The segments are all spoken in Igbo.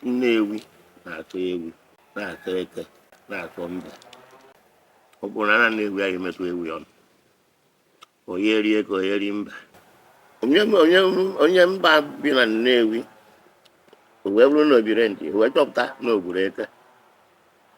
Nnewi na-asọ ewi, na-asọ eke, na-asọ mbe. Ọ bụrụ na ana Nnewi aya emetụ ewi ọnụ, onye eri eke, onye eri mbe. Onye onye onye mba bi na Nnewi o wee bụrụ na o biri ntị o wee chọpụta na o gburu eke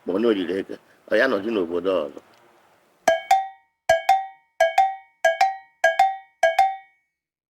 ma ọ na o riri eke ọ ya-anọzi n'obodo ọzọ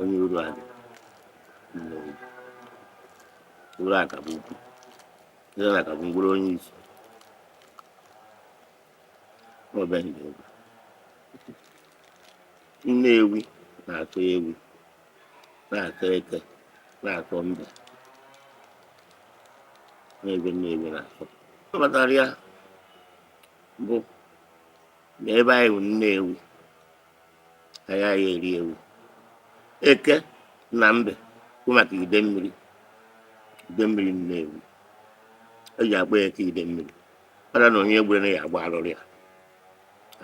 onye Uruagụ uru Akabọukwu ire aka bụ mkpụrụ onye isi ọbịaghị egwu Nnewi na-asọ ewi na-asọ eke na-asọ mbe na ife Nnewi na-asọ ọ kpatara ya bụ na ebe anyị bụ Nnewi agaghị eri ewi eke na mbe bụ maka Idemmiri Idemmiri nnewi eji akpọ ya eke Idemmiri kpara na onye gburu ya agba arụrụ ya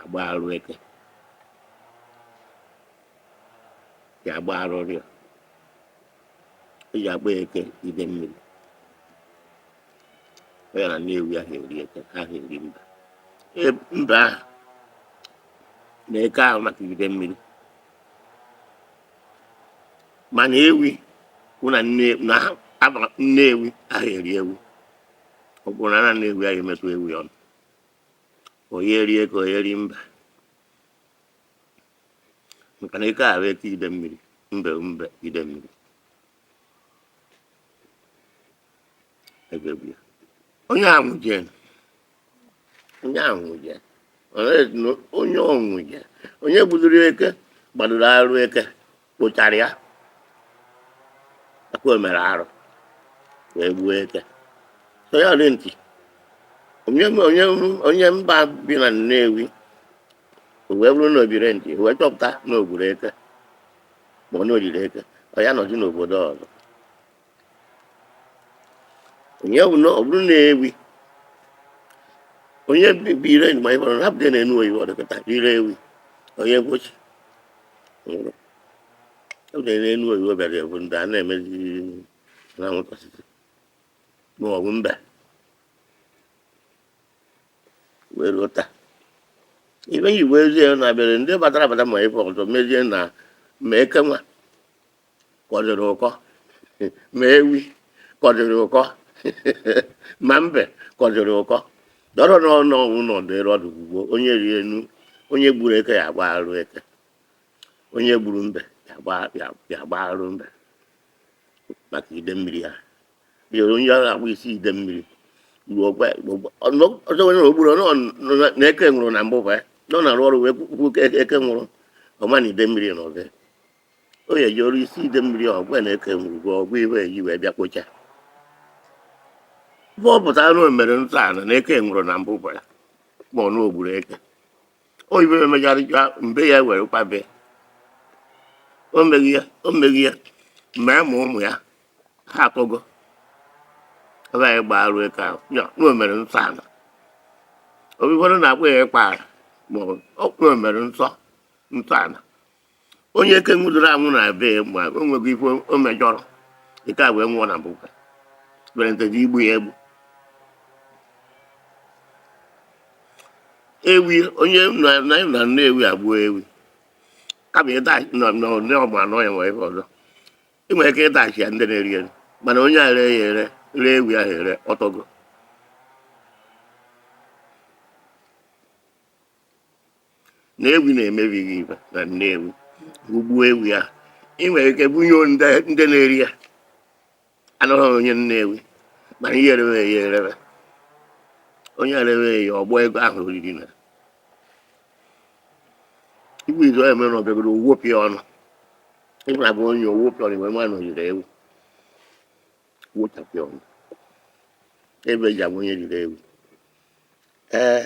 agba arụ eke ya agba arụrụ ya eji akpọ ya eke Idemmiri ọ ya na nnewi aha eri eke aha eri mbe mbe ahụ na eke ahụ maka Idemmiri mana ewi wụ na nne- na ha- ana nnewi aha eri ewi ọ kwụrụ na ana nnewi aya emetụ ewi ọnụ onye eri eke onye eri mbe maka na eke ahụ eke Idemmiri mbe mbe Idemmiri ebe ewu ya onye ahụ jee onye anwụje onye ọnwụje onye gbudoro eke gbadoro arụ eke kpochara ya akwa mere arụ wee gbuo eke so ya dị ntị onye onye onye mba bi na Nnewi o wee bụrụ na o bire ntị o wee chọpụta na o gburu eke ma ọ na o riri eke ọ ya-anọzi n'obodo ọzọ ya bụ na ọ bụrụ na ewi onye bụ ire ma anyị gbara hapụta ya n'enu oyibo ọ dịkọta ire ewi onye mkpochi nwụrụ hapụta ya na enu oyibo bịara ya bụ ndị a na-emezi na nwụta osisi ma ọ bụ mbe wee ruo taa ife e ji wee zie na-abịara ndị batara abata ma ife ọzọ mezie na ma eke nwa kọdịrị ụkọ ma ewi kọdịrị ụkọ ma mbe kọdịrị ụkọ dọrọ n'ọnụ ọnwụ na ọdịrị ọdụ ugbo onye rie enu onye gburu eke ya agba arụ eke onye gburu mbe ya agba- ya- ya agba arụ mbe maka ide mmiri ha bịa onye ahụ agba isi ide mmiri ruo ọgwa ọzọ onye ogburu ọ nọ- nọ na- na eke nwụrụ na mbụ bụ ya nọ na-arụ ọrụ wee kwuo eke nwụrụ ọma na ide mmiri na ọzọ o ye jụrụ isi ide mmiri ọgwụ na-eke ngwugwu ọgwụ iwe eji wee bịa kpocha ife ọ pụtara na o mere nsọ ana eke nwụrụ na mbụ gwara ma ọ na o gburu eke o ibe emegharịcha mbe ya were kwabe o meghị ya o meghị ya mee ma ụmụ ya ha akọgo ebe anyị gbaa arụ eke ahụ ya na o mere nsọ ala obikwara na-akpọ ya ịkpa arụ ma ọ bụ o mere nsọ nsọ ala onye eke nwụdoro anwụ na be ya o nweghị ife o mejọrọ eke a wee nwụọ na bụka berentezi igbu ya egbu ewi onye na na na nnewi agbuo ewi kama ịda nọ nọ ndị ọgba anọ ya nwere ife ọzọ ị nwere ike ịdachi ya ndị na-eri eri mana onye a ree ya ere ree ewi ahụ ere ọ tọgo na ewi na-emebi ife na nnewi i gbuo ewi a ị nwere ike bunye ndị ndị na-eri ya abụghị onye nnewi mana ihe erewe ya erewe onye erewe ya ọgbọ ego ahụ o riri na igwe izu ya mere na ọbịagoro o wopịa ọnụ ịbụra bụ onye o wopịa ọnụ wee ma na o riri ewi wochapịa ọnụ ebe e ji abụ onye riri ewi ee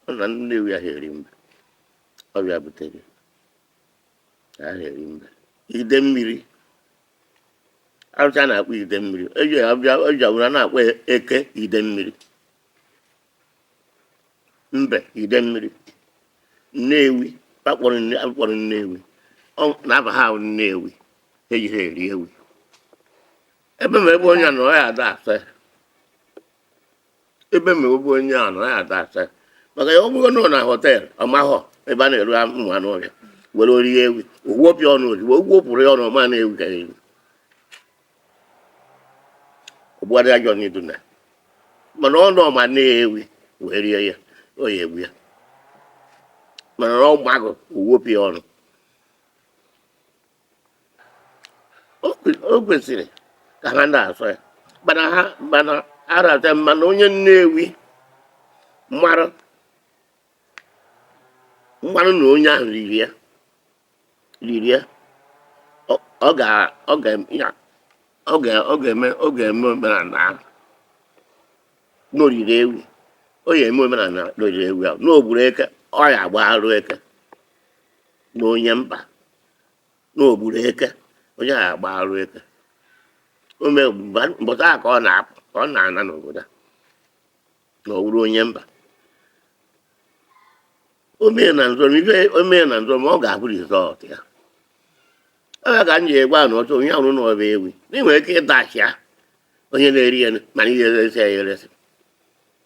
Ọ na ndị Nnewi ahụ eri mbe. Ọ bụ ya butere ahụ eri mbe. Ide mmiri. Arụsị a na-akpọ ide mmiri. Eji abịa eji were na-akpọ ya eke ide mmiri. Mbe ide mmiri. Nnewi a kpọrọ nne a kpọrọ Nnewi. Ọ na-aba ha aha Nnewi. Ha ejihọ eri ewi. Ebe ma ebe onye a nọ ya ada asa ya. ebe ma ebe onye a nọ ya ada asa maka ya ọ bụrụ na ọ na họtel ọ mahọ ebe a na-ere ụmụ anụ ọhịa were rie ewi o wopịa ọnụ ozugbo o wopịrị ya ọnụ ọ ma na ewi ka ya ewi ọgbụgharị ajọ n'Edo na mana ọ nọ ma na ewi wee rie ya ọ ya-egbu ya mana ọ mahọ o wopịa ọnụ o kwesịrị ka ha na-asọ ya mana ha mana arata mana onye nnewi mara mara na onye ahụ riri ya riri ya ọ ọ ga ọ ga ya ọ ga ọ ga-eme ọ ga-eme omenala ahụ na o riri ewi ọ ya eme omenala na o riri ewi ahụ na o gburu eke ọ ya agba arụ eke na onye mba na o gburu eke onye ahụ agba arụ eke o mee mgbe- mbọchị ahụ ka ọ na-apụ ka ọ na-ana n'obodo a na ọ wụrụ onye mba o mee na nzọm ife o mee na nzọm ọ ga-abụ result ya ebe ka m ji egwa na ọ bụ onye hụrụ na ọ bụ ewi na ị nwere ike ịdashị ya onye na-eri ya mana ihe eresi ya eresi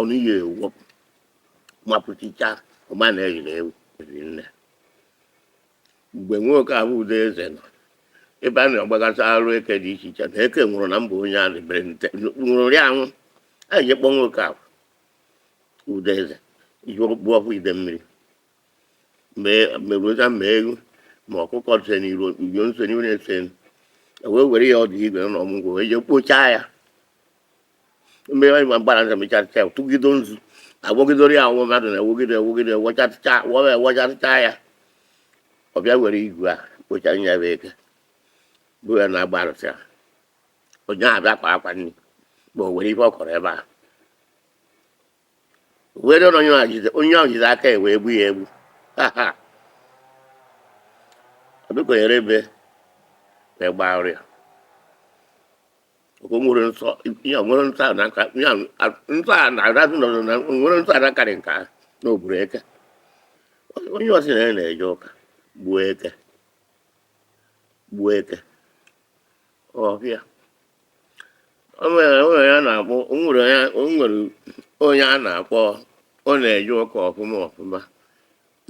ọnụ ihe ewepụ mapụchicha ọma na e riri ewi eri nne mgbe nwoke ahụ udo eze nọ ebe a na-agbagasị arụ eke dị iche iche na eke nwụrụ na mba onye a na-ebere nte nwụrụ ya anwụ a ji kpọ nwoke ahụ udo eze ihe okpu ọkụ idemmiri meruoza ma ewu ma ọkụkọ se n'iru uyo nso n'iru na-ese wee were ya ọdụ igu na ọmụ ngwọ wee jee kpochaa ya mgbe anyị gbara njem ịchatịcha ya tụgido nzu agwọgidoro ya ọnwụ mmadụ na-ewogide ewogide wọchatịcha wọwa ewọchatịcha ya ọ bịa were igu a kpochara ya bụ eke bụ ya na-agba arụsị ya onye ahụ bịa kwa akwa nri ma o were ife ọ kọrọ ebe a wee dọrọ onye ahụ jide onye ahụ jide aka ya wee gbu ya egbu ha ha ọdụkọnyere ebe wee gbaa oriko o nwere nsọ ya nwere nsọ a na-aka ya nsọ a na-arazụ nọ na nwere nsọ a na-akarị nke ahụ na o gburu eke onye sị na ya na-eje ụka gbuo eke gbuo eke ọbịa o nwere o nwere ya na-akpọ o nwere ya o nwere onye a na-akpọ ọ na-eje ụka ọfụma ọfụma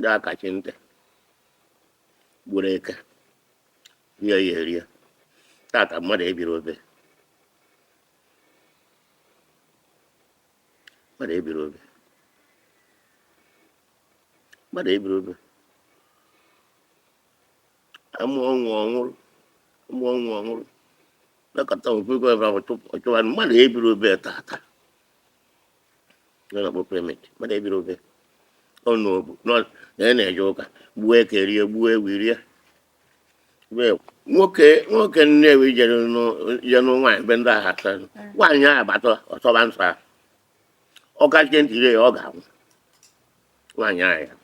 ga-akachi ntị gburu eke rie ya erie tata mmadụ ebiri obe mmadụ ebiri obe mmadụ ebiri obe ama ọnwụ ọ nwụrụ ama ọnwụ ọ nwụrụ nakọta ofe ego ebe ahụ chụpụ ọchụwa mmadụ ebiri obe tata na kpọ pemit mmadụ ebiri obe ọ nọ obu nọ na ya na-eje ụka gbuo eke rie gbuo ewi rie Wee, nwoke nwoke nnewi jere nụ- je nụ nwaanyị be ndị agha taa nwaanyị ahụ bata ọ sọba nsọ ahụ ọ kachie ntị rie ya ọ ga-anwụ nwaanyị ahụ ya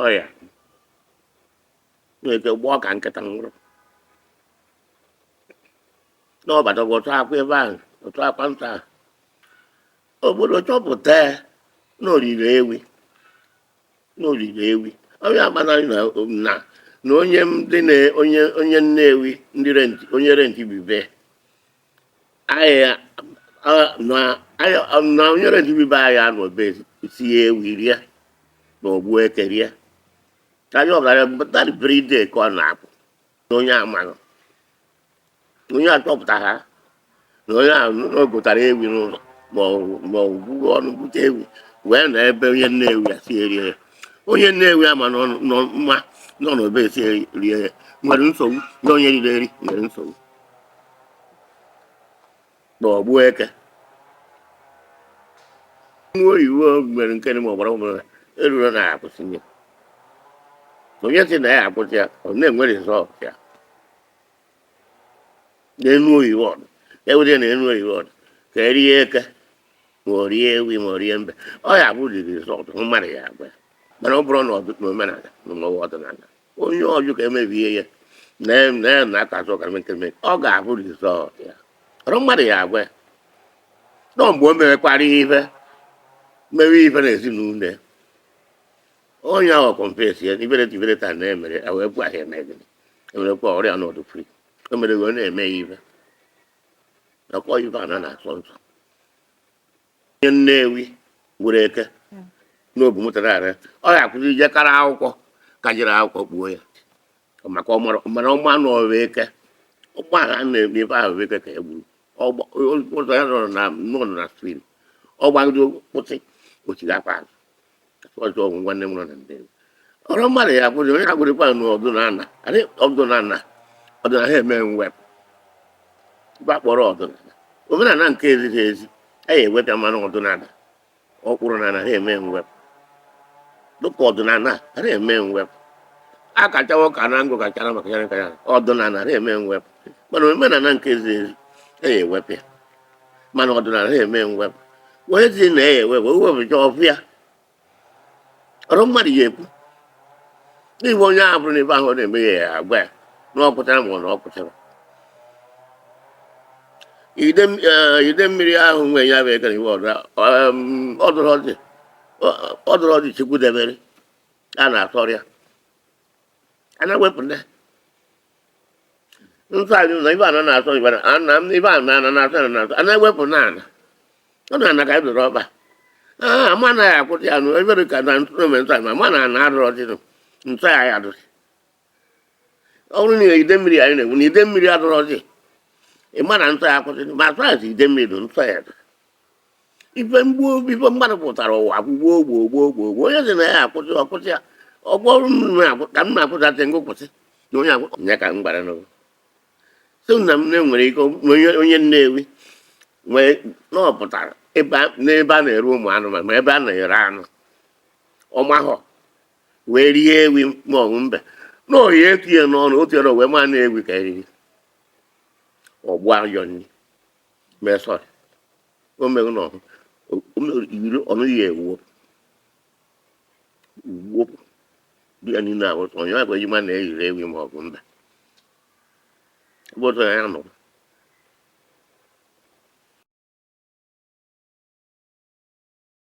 ọ ya nwere ike gbọọ ka nkịta nwụrụ n'ọbata bụ otu akwa ebe ahụ otu akwa nsọ ahụ obodo chọpụta ya na o riri ewi na o riri ewi onye agbanarị na na na onye ndị na onye onye Nnewi ndị renti onye renti bibe anyị na anyị na nyere ndị be anyị anọ be sie ewi rie na ogbu eke rie ka anyị ọgara bụ that very day ka ọ na-apụ na onye amanụ onye achọpụta ha na onye ahụ na o gotara ewi n'ụlọ ma ọ ma o gwuo ọnụ bute ewi wee na ebe onye Nnewi ya si erie ya onye Nnewi ama nọ nọ mma nọ n'obe si rie ya nwere nsogbu na onye riri eri nwere nsogbu na ogbu eke nwa oyibo mere nke dị ma ọgbara ọhụrụ eruru na akwụsị ya onye si na ya akwụsị ya ọ na-enwe result ya n'enu oyibo ọ dụ e were na enu oyibo ọ dụ ka e rie eke ma o rie ewi ma o rie mbe ọ ya bụ the result mmadụ ya agwa ya mana ọ bụrụ na ọ dị n'omenala na ọwa ọdịnala onye ọ dụ ka e mebie ya na na ya na aka azụ ọkara mee nkiri mee ọ ga-afụ result ya ọrọ mmadụ ya agwa ya nọ mgbe o merekwara ihe ife mewe ife na ezinụlọ ya onye ahụ confess ya ibere ibere taa na-emere ya wee gwa ya eme gịnị emerekwa ọrịa n'ọ dụ free o mere wee na-eme ya ife nakwa ife ana na-asọ nsọ onye Nnewi gburu eke n'obu mụtara ara ya. ọ ya akwụsị ije kara akwụkwọ ka jiri akwụkwọ kpuo ya maka ọ mara- mana ọ ma na ọ bụ eke ụgbọ ahụ a na-eme ebe ahụ bụ eke ka ya gburu Ọ gba- o- ụzọ ya nọrọ na nọrọ na steering ọ gbagide kwụsị ọ chighakwa azụ ọjọ ọgwụ nwanne m nọ na Nnewi ọrọ mmadụ ya kwụrụ onye agwụrịkwa na ọdụnana adị ọdụnana ọdụna ara eme mwepụ ife a kpọrọ ọdụnana omenana nke ezighị ezi a ya ewepụ ya mana ọdụnana ọkpụrụ na ana ara eme mwepụ dịka ọdụnana ara eme mwepụ a kachawo ka na ngụ kachara maka ya nka ya ọdụnana ara eme mwepụ mana omenana nke ezighị ezi a ya ewepụ ya mana ọdịnala ara eme mwepụ onye si na ya ewepụ o wepụcha ọ fụ ya ọrọ mmadụ ya ekwu n'ihi onye ahụ fụrụ na ife ahụ ọ na-eme ya ya agwa ya na o kotere ma ọ na o kotere Idem- eh, Idemmiri ahụ nwe ya bụ eke were iwe ọdụ ọdụrụ ọdị ọdụrụ ọdị Chukwu debere a na-asọrọ ya a na-ewepụ ndị nsọ anyị ụzọ ife ana na-asọ ife na ana m ife ana ana na-asọ ana na-asọ ana ewepụ na ana ọ na ana ka anyị dọrọ ọba aa ma anaghị akwụsị ya nụ ebere ka na ntụrụ mee nsọ anyị ma ma na ana adụrọzinụ nsọ ya ya dụsị ọ bụrụ na ide mmiri anyị na-ekwu na ide mmiri adụrọzi ị ma na nsọ ya akwụsị ma asọ ya si ide mmiri dụ nsọ ya dụ ife mgbu ife mmadụ pụtara ụwa gwugbo ogbo ogbo ogbo ogbo onye sị na ya akwụsị ọ kwụsị ya ọgwọ ọrụ m na-akwụ- ka m na-akwụsatị ngụ kwụsị na onye akwụ nye ka m gbara n'ụwa so na m na-enwere ike onye onye nnewi nwee na ọ pụtara ebe a- n'ebe a na-ere ụmụ anụmanụ ma ebe a na-ere anụ ọ mahọ wee rie ewi ma ọ bụ mbe na o ye etuye n'ọnụ o tuye na wee ma na ewi ka e riri ọ gbụa ajọ nri mee sorry o meghị na ọhụ- o- o mere iri ọnụ ya ewuo ugbo dị ya niile ahụ sọ onye agwa e ji ma na e riri ewi ma ọ bụ mba ebe ọzọ ya nọ